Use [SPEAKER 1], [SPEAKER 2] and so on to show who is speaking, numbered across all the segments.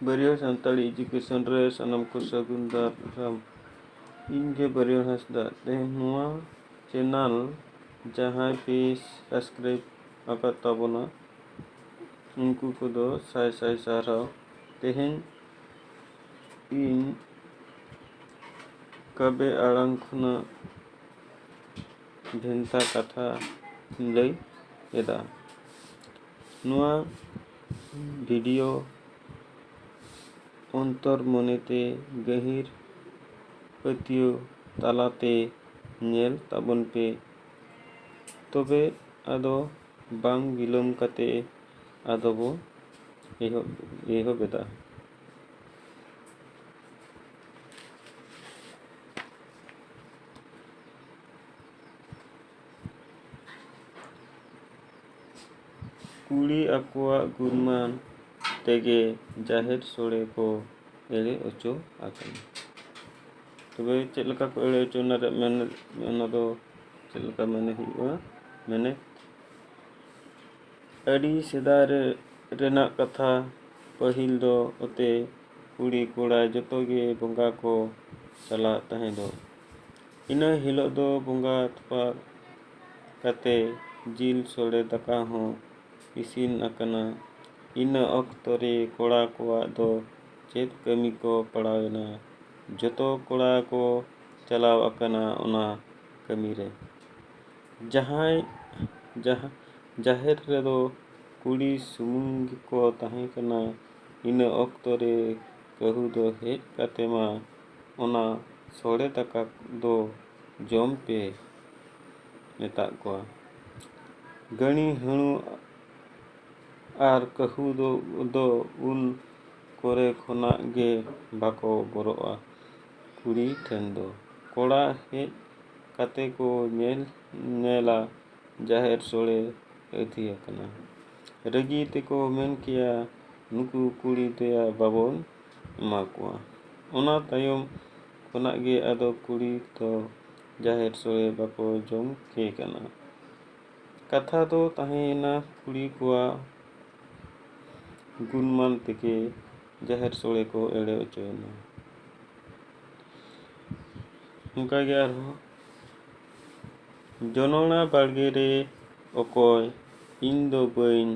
[SPEAKER 1] ᱵᱟᱹᱨᱭᱟᱹᱲ Santali education ᱨᱮ ᱥᱟᱱᱟᱢ ᱠᱚ ᱥᱟᱹᱜᱩᱱ ᱫᱟᱨᱟᱢ ᱤᱧ ᱜᱮ ᱵᱟᱹᱨᱭᱟᱹᱲ ᱦᱟᱸᱥᱫᱟ ᱛᱮᱦᱮᱧ ᱱᱚᱣᱟ ᱪᱮᱱᱮᱞ ᱡᱟᱦᱟᱸᱭ ᱯᱮ ᱥᱟᱵᱥᱠᱨᱟᱭᱤᱵ ᱟᱠᱟᱫ ᱛᱟᱵᱚᱱᱟ ᱩᱱᱠᱩ ᱠᱚᱫᱚ ᱥᱟᱭ ᱥᱟᱭ ᱥᱟᱨᱦᱟᱣ ᱛᱮᱦᱮᱧ ᱤᱧ ᱠᱟᱵᱮ ᱟᱲᱟᱝ ᱠᱷᱚᱱᱟᱜ ᱵᱷᱮᱱᱛᱟ ᱠᱟᱛᱷᱟᱧ ᱞᱟᱹᱭ ᱮᱫᱟ ᱱᱚᱣᱟ ᱵᱷᱤᱰᱤᱭᱳ ᱚᱱᱛᱚᱨ ᱢᱚᱱᱮᱛᱮ ᱜᱟᱹᱦᱤᱨ ᱯᱟᱹᱛᱭᱟᱹᱣ ᱛᱟᱞᱟᱛᱮ ᱧᱮᱞ ᱛᱟᱵᱚᱱ ᱯᱮ ᱛᱚᱵᱮ ᱟᱫᱚ ᱵᱟᱝ ᱵᱤᱞᱚᱢ ᱠᱟᱛᱮ ᱟᱫᱚ ᱵᱚ ᱮᱦᱚᱵ ᱮᱦᱚᱵ ᱮᱫᱟ ᱠᱩᱲᱤ ᱟᱠᱚᱣᱟᱜ ᱜᱩᱱᱢᱟᱱ ᱛᱮᱜᱮ ᱡᱟᱦᱮᱨ ᱥᱳᱲᱮ ᱠᱚ ᱮᱲᱮ ᱚᱪᱚ ᱟᱠᱟᱱᱟ ᱛᱚᱵᱮ ᱪᱮᱫ ᱞᱮᱠᱟ ᱠᱚ ᱮᱲᱮ ᱚᱪᱚ ᱚᱱᱟ ᱨᱮᱭᱟᱜ ᱢᱮᱱ ᱚᱱᱟ ᱫᱚ ᱪᱮᱫ ᱞᱮᱠᱟ ᱢᱮᱱᱮ ᱦᱩᱭᱩᱜᱼᱟ ᱢᱮᱱᱮ ᱟᱹᱰᱤ ᱥᱮᱫᱟᱭ ᱨᱮ ᱨᱮᱱᱟᱜ ᱠᱟᱛᱷᱟ ᱯᱟᱹᱦᱤᱞ ᱫᱚ ᱚᱛᱮ ᱠᱩᱲᱤ ᱠᱚᱲᱟ ᱡᱚᱛᱚ ᱜᱮ ᱵᱚᱸᱜᱟ ᱠᱚ ᱪᱟᱞᱟᱜ ᱛᱟᱦᱮᱸᱫᱚᱜ ᱤᱱᱟᱹ ᱦᱤᱞᱳᱜ ᱫᱚ ᱵᱚᱸᱜᱟ ᱛᱷᱚᱯᱟ ᱠᱟᱛᱮ ᱡᱤᱞ ᱥᱚᱲᱮ ᱫᱟᱠᱟ ᱦᱚᱸ ᱤᱥᱤᱱ ᱟᱠᱟᱱᱟ ᱤᱱᱟᱹ ᱚᱠᱛᱚ ᱨᱮ ᱠᱚᱲᱟ ᱠᱚᱣᱟᱜ ᱫᱚ ᱪᱮᱫ ᱠᱟᱹᱢᱤ ᱠᱚ ᱯᱟᱲᱟᱣ ᱮᱱᱟ ᱡᱚᱛᱚ ᱠᱚᱲᱟ ᱠᱚ ᱪᱟᱞᱟᱣ ᱟᱠᱟᱱᱟ ᱚᱱᱟ ᱠᱟᱹᱢᱤ ᱨᱮ ᱡᱟᱦᱟᱸᱭ ᱡᱟᱦᱟᱸ ᱡᱟᱦᱮᱨ ᱨᱮᱫᱚ ᱠᱩᱲᱤ ᱥᱩᱢᱩᱝ ᱜᱮᱠᱚ ᱛᱟᱦᱮᱸ ᱠᱟᱱᱟ᱾ ᱤᱱᱟᱹ ᱚᱠᱛᱚ ᱨᱮ ᱠᱟᱹᱦᱩ ᱫᱚ ᱦᱮᱡ ᱠᱟᱛᱮ ᱢᱟ ᱚᱱᱟ ᱥᱚᱲᱮ ᱫᱟᱠᱟ ᱫᱚ ᱡᱚᱢ ᱯᱮ ᱢᱮᱛᱟᱫ ᱠᱚᱣᱟ᱾ ᱜᱟᱹᱬᱤ ᱦᱟᱹᱬᱩ ᱟᱨ ᱠᱟᱹᱦᱩ ᱫᱚ ᱩᱱ ᱠᱚᱨᱮ ᱠᱷᱚᱱᱟᱜ ᱜᱮ ᱵᱟᱠᱚ ᱵᱚᱨᱚᱜᱼᱟ᱾ ᱠᱩᱲᱤ ᱴᱷᱮᱱ ᱫᱚ᱾ ᱠᱚᱲᱟ ᱦᱮᱡ ᱠᱟᱛᱮ ᱠᱚ ᱧᱮᱞ ᱧᱮᱞᱟ ᱡᱟᱦᱮᱨ ᱥᱚᱲᱮ ᱟᱹᱛᱷᱤ ᱟᱠᱟᱱᱟ᱾ ᱨᱟᱹᱜᱤ ᱛᱮᱠᱚ ᱢᱮᱱ ᱠᱮᱭᱟ ᱱᱩᱠᱩ ᱠᱩᱲᱤ ᱫᱚᱭᱟ ᱵᱟᱵᱚᱱ ᱮᱢᱟ ᱠᱚᱣᱟ᱾ ᱚᱱᱟ ᱛᱟᱭᱚᱢ ᱠᱷᱚᱱᱟᱜ ᱜᱮ ᱟᱫᱚ ᱠᱩᱲᱤ ᱫᱚ ᱡᱟᱦᱮᱨ ᱥᱚᱲᱮ ᱵᱟᱠᱚ ᱡᱚᱢ ᱠᱮ ᱠᱟᱱᱟ᱾ ᱠᱟᱛᱷᱟ ᱫᱚ ᱛᱟᱦᱮᱸᱭᱮᱱᱟ ᱠᱩᱲᱤ ᱠᱚᱣᱟᱜ᱾ ᱜᱩᱱᱢᱟᱱ ᱛᱮᱜᱮ ᱡᱟᱦᱮᱨ ᱥᱳᱲᱮ ᱠᱚ ᱮᱲᱮ ᱚᱪᱚᱭᱮᱱᱟ ᱚᱱᱠᱟᱜᱮ ᱟᱨᱦᱚᱸ ᱡᱚᱱᱚᱲᱟ ᱵᱟᱲᱜᱮ ᱨᱮ ᱚᱠᱚᱭ ᱤᱧ ᱫᱚ ᱵᱟᱹᱧ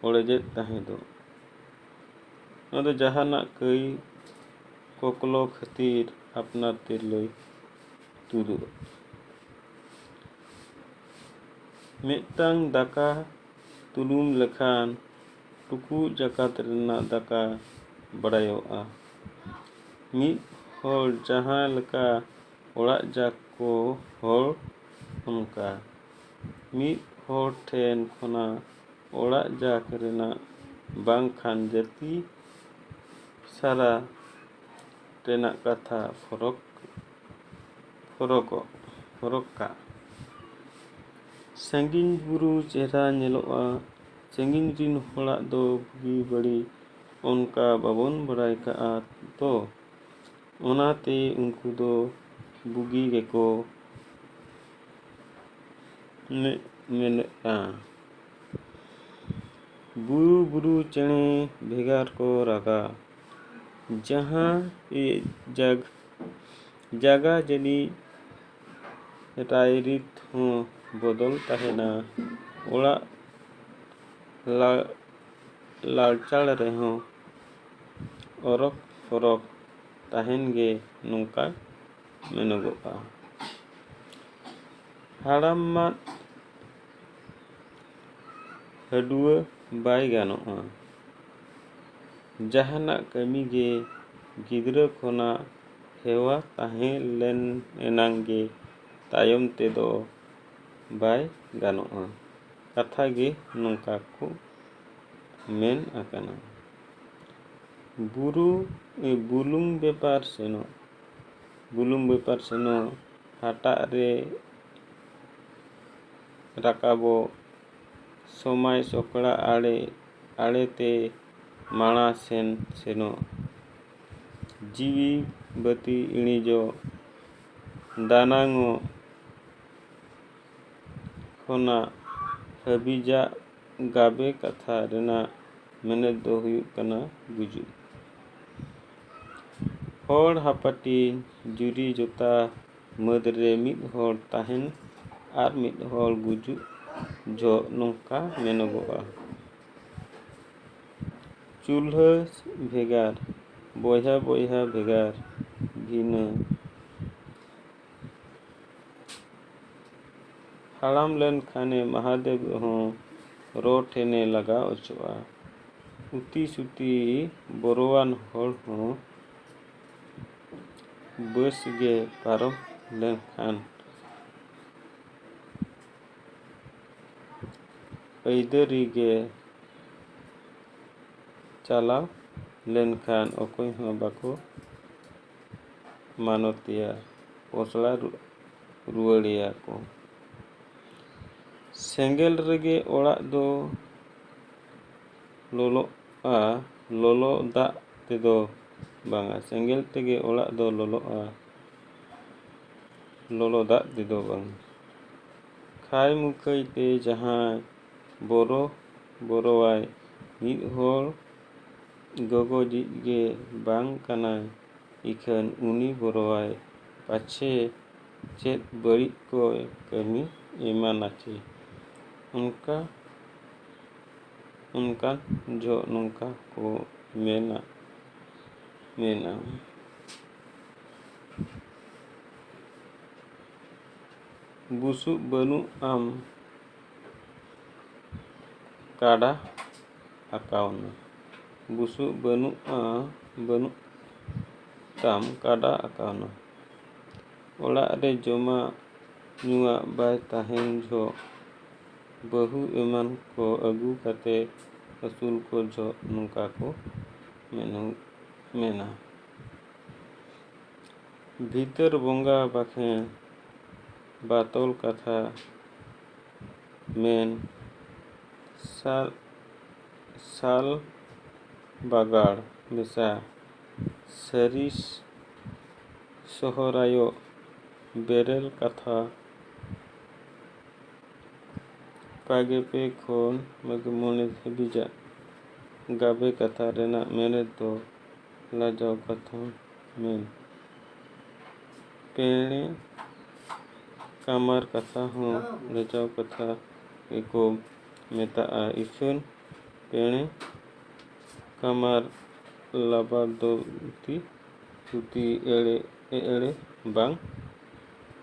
[SPEAKER 1] ᱚᱲᱮᱡᱮᱫ ᱛᱟᱦᱮᱸ ᱫᱚ ᱱᱚᱣᱟ ᱫᱚ ᱡᱟᱦᱟᱱᱟᱜ ᱠᱟᱹᱭ ᱠᱚᱠᱞᱚ ᱠᱷᱟᱹᱛᱤᱨ ᱟᱯᱱᱟᱨ ᱛᱤᱨᱞᱟᱹᱭ ᱛᱩᱫᱩᱜᱼᱟ ᱢᱤᱫᱴᱟᱝ ᱫᱟᱠᱟ ᱛᱩᱞᱩᱢ ᱞᱮᱠᱷᱟᱱ ᱴᱩᱠᱩᱡ ᱡᱟᱠᱟᱛ ᱨᱮᱱᱟᱜ ᱫᱟᱠᱟ ᱵᱟᱰᱟᱭᱚᱜᱼᱟ᱾ ᱢᱤᱫ ᱦᱚᱲ ᱡᱟᱦᱟᱸ ᱞᱮᱠᱟ ᱚᱲᱟᱜ ᱡᱟᱠ ᱠᱚ ᱦᱚᱲ ᱚᱱᱠᱟ᱾ ᱢᱤᱫ ᱦᱚᱲ ᱴᱷᱮᱱ ᱠᱷᱚᱱᱟᱜ ᱚᱲᱟᱜ ᱡᱟᱠ ᱨᱮᱱᱟᱜ ᱵᱟᱝ ᱠᱷᱟᱱ ᱡᱟᱹᱛᱤ ᱥᱟᱨᱟ ᱨᱮᱱᱟᱜ ᱠᱟᱛᱷᱟ ᱯᱷᱚᱨᱚᱠ ᱦᱚᱨᱚᱜᱚᱜ ᱦᱚᱨᱚᱜ ᱠᱟᱜ ᱥᱟᱺᱜᱤᱧ ᱵᱩᱨᱩ ᱪᱮᱦᱨᱟ ᱧᱮᱞᱚᱜᱼᱟ ᱥᱟᱺᱜᱤᱧ ᱨᱤᱱ ᱦᱚᱲᱟᱜ ᱫᱚ ᱵᱩᱜᱤ ᱵᱟᱹᱲᱤᱡ ᱚᱱᱠᱟ ᱵᱟᱵᱚᱱ ᱵᱟᱲᱟᱭ ᱠᱟᱜᱼᱟ ᱛᱚ ᱚᱱᱟᱛᱮ ᱩᱱᱠᱩ ᱫᱚ ᱵᱩᱜᱤ ᱜᱮᱠᱚ ᱢᱮᱫ ᱢᱮᱱᱮᱫᱼᱟ ᱵᱩᱨᱩ ᱵᱩᱨᱩ ᱪᱮᱬᱮ ᱵᱷᱮᱜᱟᱨ ᱠᱚ ᱨᱟᱜᱟ ᱡᱟᱦᱟᱸ ᱡᱟᱜᱽ ᱡᱟᱭᱜᱟ ᱡᱟᱹᱱᱤᱡ ᱨᱟᱭᱨᱤᱛ ᱦᱚᱸ ᱵᱚᱫᱚᱞ ᱛᱟᱦᱮᱱᱟ ᱚᱲᱟᱜ ᱞᱟ ᱞᱟᱲᱪᱟᱲ ᱨᱮᱦᱚᱸ ᱚᱨᱚᱠ ᱯᱚᱨᱚᱠ ᱛᱟᱦᱮᱱ ᱜᱮ ᱱᱚᱝᱠᱟ ᱢᱮᱱᱚᱜᱚᱜᱼᱟ ᱦᱟᱲᱟᱢ ᱢᱟᱫ ᱦᱟᱹᱰᱩᱣᱟᱹ ᱵᱟᱭ ᱜᱟᱱᱚᱜᱼᱟ ᱡᱟᱦᱟᱱᱟᱜ ᱠᱟᱹᱢᱤ ᱜᱮ ᱜᱤᱫᱽᱨᱟᱹ ᱠᱷᱚᱱᱟᱜ ᱦᱮᱣᱟ ᱛᱟᱦᱮᱸ ᱞᱮᱱ ᱮᱱᱟᱝ ᱜᱮ ᱛᱟᱭᱚᱢ ᱛᱮᱫᱚ ᱵᱟᱭ ᱜᱟᱱᱚᱜᱼᱟ ᱠᱟᱛᱷᱟ ᱜᱮ ᱱᱚᱝᱠᱟ ᱠᱚ ᱢᱮᱱ ᱟᱠᱟᱱᱟ ᱵᱩᱨᱩ ᱵᱩᱞᱩᱝ ᱵᱮᱯᱟᱨ ᱥᱮᱱᱚᱜ ᱵᱩᱞᱩᱝ ᱵᱮᱯᱟᱨ ᱥᱮᱱᱚᱜ ᱦᱟᱴᱟᱜ ᱨᱮ ᱨᱟᱠᱟᱵᱚᱜ ᱥᱚᱢᱟᱭ ᱥᱚᱠᱲᱟ ᱟᱲᱮ ᱟᱲᱮᱛᱮ ᱢᱟᱬᱟ ᱥᱮᱱ ᱥᱮᱱᱚᱜ ᱡᱤᱣᱤ ᱵᱟᱹᱛᱤ ᱤᱬᱤᱡᱚᱜ ᱫᱟᱱᱟᱝᱚᱜ ᱠᱷᱚᱱᱟᱜ ᱦᱟᱹᱵᱤᱡᱟᱜ ᱜᱟᱵᱮ ᱠᱟᱛᱷᱟ ᱨᱮᱱᱟᱜ ᱢᱮᱱᱮᱛ ᱫᱚ ᱦᱩᱭᱩᱜ ᱠᱟᱱᱟ ᱜᱩᱡᱩᱜ᱾ ᱦᱚᱲ ᱦᱟᱯᱟᱴᱤᱧ ᱡᱩᱨᱤ ᱡᱚᱛᱟ ᱢᱟᱹᱫᱽ ᱨᱮ ᱢᱤᱫ ᱦᱚᱲ ᱛᱟᱦᱮᱱ ᱟᱨ ᱢᱤᱫ ᱦᱚᱲ ᱜᱩᱡᱩᱜ ᱡᱚᱦᱚᱜ ᱱᱚᱝᱠᱟ ᱢᱮᱱᱚᱜᱚᱜᱼᱟ ᱪᱩᱞᱦᱟᱹ ᱵᱷᱮᱜᱟᱨ ᱵᱚᱭᱦᱟ ᱵᱚᱭᱦᱟ ᱵᱷᱮᱜᱟᱨ ᱵᱷᱤᱱᱟᱹ ᱦᱟᱲᱟᱢ ᱞᱮᱱᱠᱷᱟᱱᱮ ᱢᱟᱦᱟᱫᱮᱵ ᱦᱚᱸ ᱨᱚ ᱴᱷᱮᱱᱮ ᱞᱟᱜᱟᱣ ᱚᱪᱚᱜᱼᱟ ᱩᱛᱤ ᱥᱩᱛᱤ ᱵᱚᱨᱚᱣᱟᱱ ᱦᱚᱲ ᱦᱚᱸ ᱵᱟᱹᱥ ᱜᱮ ᱯᱟᱨᱚᱢ ᱞᱮᱱᱠᱷᱟᱱ ᱟᱹᱭᱫᱟᱹᱨᱤ ᱜᱮ ᱪᱟᱞᱟᱣ ᱞᱮᱱᱠᱷᱟᱱ ᱚᱠᱚᱭ ᱦᱚᱸ ᱵᱟᱠᱚ ᱢᱟᱱᱚᱛᱮᱭᱟ ᱯᱚᱥᱲᱟ ᱨᱩᱣᱟᱹᱲᱮᱭᱟ ᱠᱚ ᱥᱮᱸᱜᱮᱞ ᱨᱮᱜᱮ ᱚᱲᱟᱜ ᱫᱚ ᱞᱚᱞᱚᱜᱼᱟ ᱞᱚᱞᱚ ᱫᱟᱜ ᱛᱮᱫᱚ ᱵᱟᱝᱟ ᱥᱮᱸᱜᱮᱞ ᱛᱮᱜᱮ ᱚᱲᱟᱜ ᱫᱚ ᱞᱚᱞᱚᱜᱼᱟ ᱞᱚᱞᱚ ᱫᱟᱜ ᱛᱮᱫᱚ ᱵᱟᱝ ᱠᱷᱟᱭ ᱢᱩᱠᱷᱟᱹᱭ ᱛᱮ ᱡᱟᱦᱟᱸᱭ ᱵᱚᱨᱚ ᱵᱚᱨᱚᱣᱟᱭ ᱢᱤᱫ ᱦᱚᱲ ᱜᱚᱜᱚᱡᱤᱡ ᱜᱮ ᱵᱟᱝ ᱠᱟᱱᱟᱭ ᱤᱠᱷᱟᱹᱱ ᱩᱱᱤ ᱵᱚᱨᱚᱣᱟᱭ ᱯᱟᱪᱷᱮ ᱪᱮᱫ ᱵᱟᱹᱲᱤᱡ ᱠᱚᱭ ᱠᱟᱹᱢᱤ ᱮᱢᱟᱱᱟᱪᱮ ᱚᱱᱠᱟ ᱚᱱᱠᱟᱱ ᱡᱚᱦᱚᱜ ᱱᱚᱝᱠᱟ ᱠᱚ ᱢᱮᱱᱟ ᱢᱮᱱᱟ ᱵᱩᱥᱩᱵ ᱵᱟᱹᱱᱩᱜ ᱟᱢ ᱠᱟᱰᱟ ᱟᱠᱟᱣᱱᱟ ᱵᱩᱥᱩᱵ ᱵᱟᱹᱱᱩᱜᱼᱟ ᱵᱟᱹᱱᱩᱜ ᱛᱟᱢ ᱠᱟᱰᱟ ᱟᱠᱟᱣᱱᱟ ᱚᱲᱟᱜ ᱨᱮ ᱡᱚᱢᱟᱜ ᱧᱩᱣᱟᱜ ᱵᱟᱭ ᱛᱟᱦᱮᱱ ᱡᱚᱦᱚᱜ ᱵᱟᱹᱦᱩ ᱮᱢᱟᱱ ᱠᱚ ᱟᱹᱜᱩ ᱠᱟᱛᱮ ᱟᱹᱥᱩᱞ ᱠᱚ ᱡᱚᱦᱚᱜ ᱱᱚᱝᱠᱟ ᱠᱚ ᱢᱮᱱᱟ᱾ ᱵᱷᱤᱛᱟᱹᱨ ᱵᱚᱸᱜᱟ ᱵᱟᱠᱷᱮᱬ ᱵᱟᱛᱚᱞ ᱠᱟᱛᱷᱟ ᱢᱮᱱ ᱥᱟᱞ ᱵᱟᱜᱟᱲ ᱢᱮᱥᱟ ᱥᱟᱹᱨᱤ ᱥᱚᱦᱚᱨᱟᱭᱚᱜ ᱵᱮᱨᱮᱞ ᱠᱟᱛᱷᱟ᱾ ᱵᱟᱜᱮ ᱯᱮ ᱠᱷᱚᱱ ᱵᱟᱜᱮ ᱢᱚᱬᱮ ᱫᱷᱟᱹᱵᱤᱡᱟᱜ ᱜᱟᱵᱮ ᱠᱟᱛᱷᱟ ᱨᱮᱱᱟᱜ ᱢᱮᱱᱮᱛ ᱫᱚ ᱞᱟᱡᱟᱣ ᱠᱟᱛᱷᱟ ᱢᱮᱱ᱾ ᱯᱮᱬᱮ ᱠᱟᱢᱟᱨ ᱠᱟᱛᱷᱟ ᱦᱚᱸ ᱞᱟᱡᱟᱣ ᱠᱟᱛᱷᱟ ᱜᱮ ᱠᱚ ᱢᱮᱛᱟᱜᱼᱟ᱾ ᱤᱥᱟᱹᱱ ᱯᱮᱬᱮ ᱠᱟᱢᱟᱨ ᱞᱟᱵᱟᱫᱚᱛᱤ ᱛᱷᱩᱛᱤ ᱮᱲᱮ ᱮᱲᱮ ᱵᱟᱝ᱾